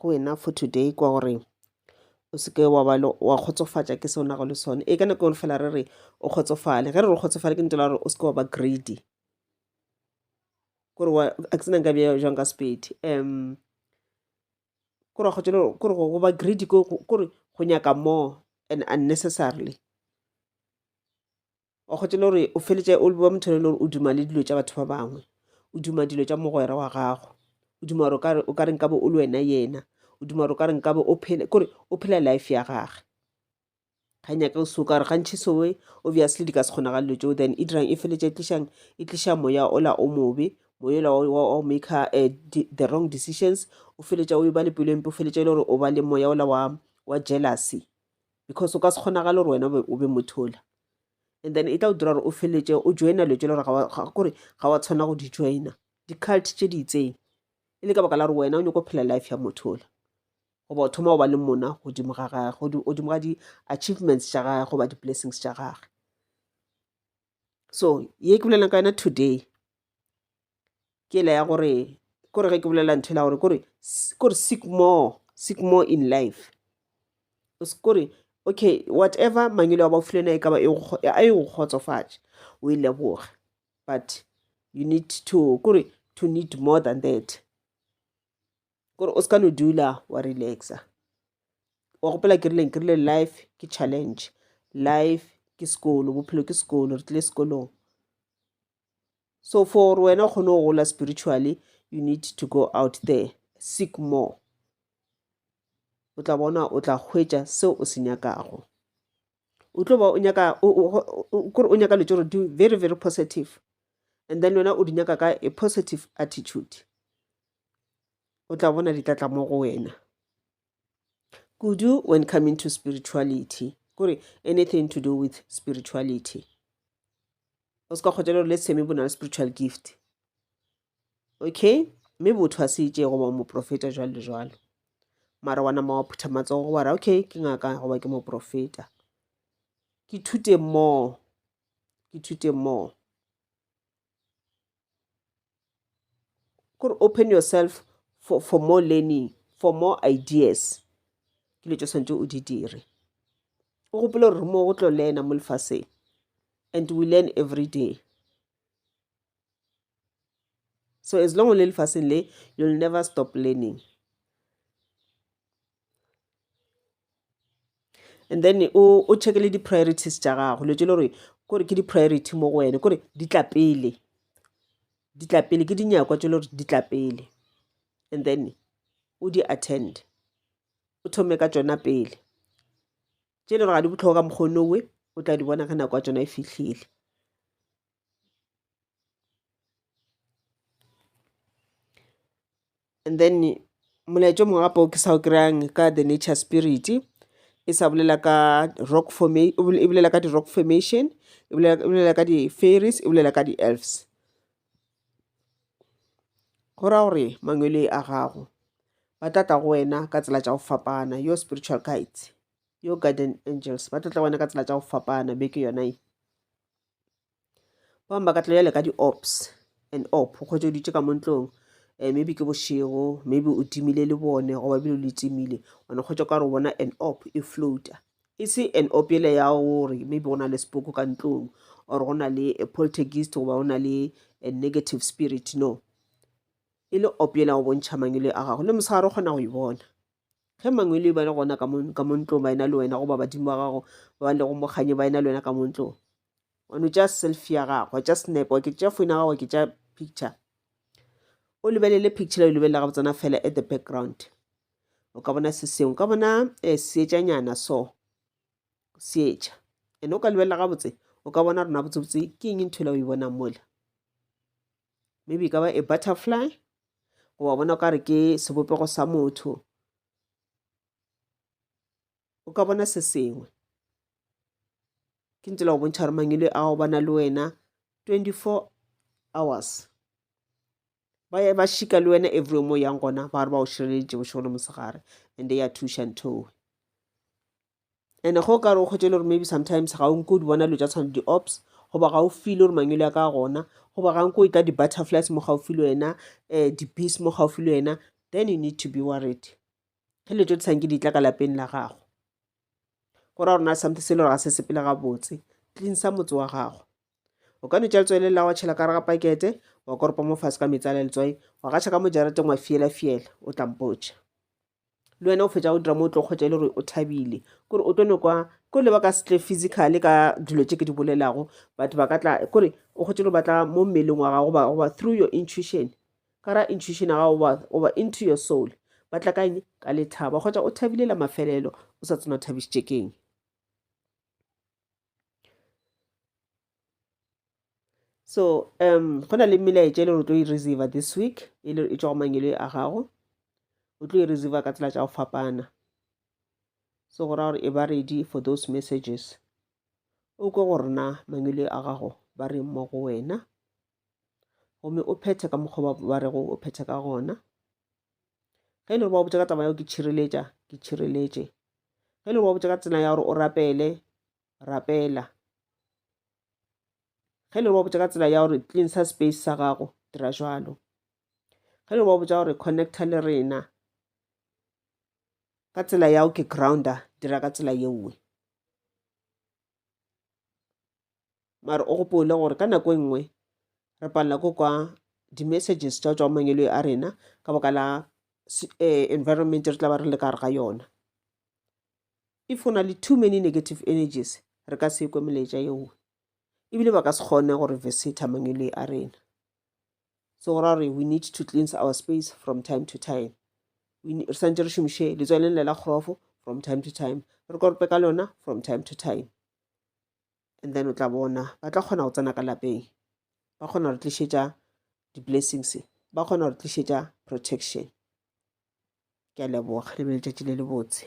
go wena for today kwa gore o seke wa ba le wa kgotsofatša ke se o nago le sone e ka nako e fela re re o kgotsofale ge re re kgotsofale ke ntela gore o seke wa ba greedy kore wa a ke tsena nka bja jwang ka sepedi um kore wa kgotsa kore go ba greedy kore go nyaka more and unnecessarily wa kgotse le gore o feletse o ba motho le gore o duma le dilo tša batho ba bangwe o duma dilo tša mogwera wa gago o duma gore o ka reng ka bo o le wena yena o duma gore o ka reng ka bo o phele kore o phela life ya gage ga nyaka o se o ka re gantšhi soe obviously di ka se kgona ga dilo tseo then e dirang e feletse e tlišang e tliša moya ola o mobe moya ola wa make her eh, the wrong decisions o feletša o e ba le pelo empe o feletša e le gore o ba le moya ola wa jealousy because o ka se kgonagale gore wena o be mothola and then e tla o dira gore o feleletse o joina dilo tse le gore kore ga wa tshwana go di joina di-cult tse di itseng e le ka baka la gore wena o nyako phela life ya mothola goba o thoma go ba le mona godimo ga gage godimo ga di-achievements tša gage goba di-blessings tša gage so ye ke bolelang ka yona today ke la ya gore kore ge ke bolela ntho la gore kore kore seek more seek more in life kore okay whatever mangelo a ba o filena e kaba a e go kgotsofatše o e leboge but you need to kore to need more than that kore o se ka no dula wa relaxa wa gopela ke rileng ke rile life ke challenge life ke sekolo bophelo ke sekolo re tlile sekolong so for wena o kgone go gola spiritually you need to go out there seek more o tla bona o tla hwetša seo o se nyakago o tlo ba o nyaka kore o nyaka le gore di very very positive and then wena o di nyaka ka a positive attitude o tla bona di tla tla mo go wena kudu when coming to spirituality kore anything to do with spirituality o se ka kgotsa le seme bo na le spiritual gift okay mme botho a se itšego ba moprofeta jwalo le jwalo mara wa nama wa phutha matsogo wa ra okay ke ngaka goba ke moprofeta ke thute more ke thute more kore open yourself for, for more learning for more ideas ke dilo tše swanetse o di dire o gopole gore mo go tlo lena mo lefaseng and we learn every day so as long o le lefaseng le you'll never stop learning and then o check le di-priorities tša gago dilo tse le gore kore ke di-priority mo go wena kore di tla pele di tla pele ke dinyakwa tse le gore di tla pele and then o di attend o thome ka tsona pele tše le gore ga di botlhokwa ka mokgwa o nowe o tla di bona ge nako ya tsona e fihlile And then molaetša o mongwe gape o ke sa o kry-ang ka the nature spirit e sa bolela ka rock e bolela ka di-rock formation e bolela ka di-fairies e bolela ka di-elves go ra gore mangwele a gago ba tla tla go wena ka tsela tša go fapana your spiritual guides your guardian angels ba tla tla go wena ka tsela tša go fapana beke yona e. ba bangwe ba ka tlo ya le ka di-ops and op go kgwetsa o ditše ka mo ntlong um maybe ke bošego maybe o timile le bone goba ebile o le timile one kgwetsa ka gore bona an op e floata e se an op ele ya gore maybe go na le sepoko ka ntlong or go na le a poltergist goba go na le a negative spirit no e le op ela go bontšha mangele a gago le mosegare o kgona go e bona ge mangwele ba le gona ka mo ntlong ba ena le wena goba badimo ba gago ba ba lego mokganye ba ena le wena ka mo ntlong wano tša selfie ya gagwe tša snape ke tša foina gagwe ke tša picture o lebelele picture o lebelela ga botsana fela at the background o ka bona se seo ka bona um eh, seetšanyana so seetša and o ka lebelela gabotse o ka bona rona botsebotse ke eng ntho ela o e bonang mola maybe e ka ba a butterfly o ba bona o ka re ke sebopego sa motho o ka bona se sengwe ke ntse la go bontšha gore mangelo a go bana le wena 24 hours ba ba šika le wena every mo yang gona ba re ba o šireleditše bošego le mosegare and ya thuša nthowe and go ka re o kgwetše le gore maybe sometimes ga o nke o di bona dilo tša tshwana di-ops goba ga o file gore mangwele a ka gona goba ga nko e ka di-butterflies mo gaufi le wena um di-bees mo gaufi le wena then you need to be worried ge dilo tso di sanke di tla ka lapeng la gago go ra rona something se le gore ga se sepele gabotse cleansa motse wa gago o ka no tša letswai le lela wa tšhela ka re ga pakete wa koropa mo fase ka metsi a la letswai wa gaša ka mo jarateng wa fiela fiela o tlampotša le wena o fetša o dira mo o tlo kgwetša e le gore o thabile kore o tlo nokwa ko le ba ka setle physically ka dilo tše ke di bolelago but ba ka tla kore o kgwetše gore ba tla mo mmeleng wa gago goba through your intuition ka ra intuition ya gago goba into your soul ba tla ka eng ka lethabo kgotsa o thabile la mafelelo o sa tsena o thabišitše keng so um go na le melaetša e le gore o tlo e reserva this week e le e tšwa go mangele a gago o tlo e reserva ka tsela tša go fapana so go ra gore e ba ready for those messages o kwe gore na mangele a gago ba re mo go wena gomme o phethe ka mokgwa ba rego o phethe ka gona ge e le gore ba botsa ka taba yao ke tšhireletša ke tšhireletše ge e le gore ba botsa ka tsela ya gore o rapele rapela ge le ba botša ka tsela ya gore clean sa space sa gago dira jalo ge le ba botša gore connecta le rena ka tsela ya o ke grounder dira ka tsela ye nngwe mare o gopole gore ka nako e nngwe re palela ko kwa di-messages tša tswa mangelo a rena ka baka la eh, environment re tla ba re le ka gare ga yona If go na le too many negative energies, re ka se ekwe melaetša ye nngwe. Ebile ba ka se kgone go re visita mangwele a rena. So go ra gore we need to cleanse our space from time to time. Re santse re šomiše letsweleng le la kgorofo from time to time. Re korpe ka lona from time to time. And then o tla bona ba tla kgona go tsena ka lapeng. Ba kgona re tlišetša di-blessings. Ba kgona re tlišetša protection. Ke a leboga le be letšatši le le botse.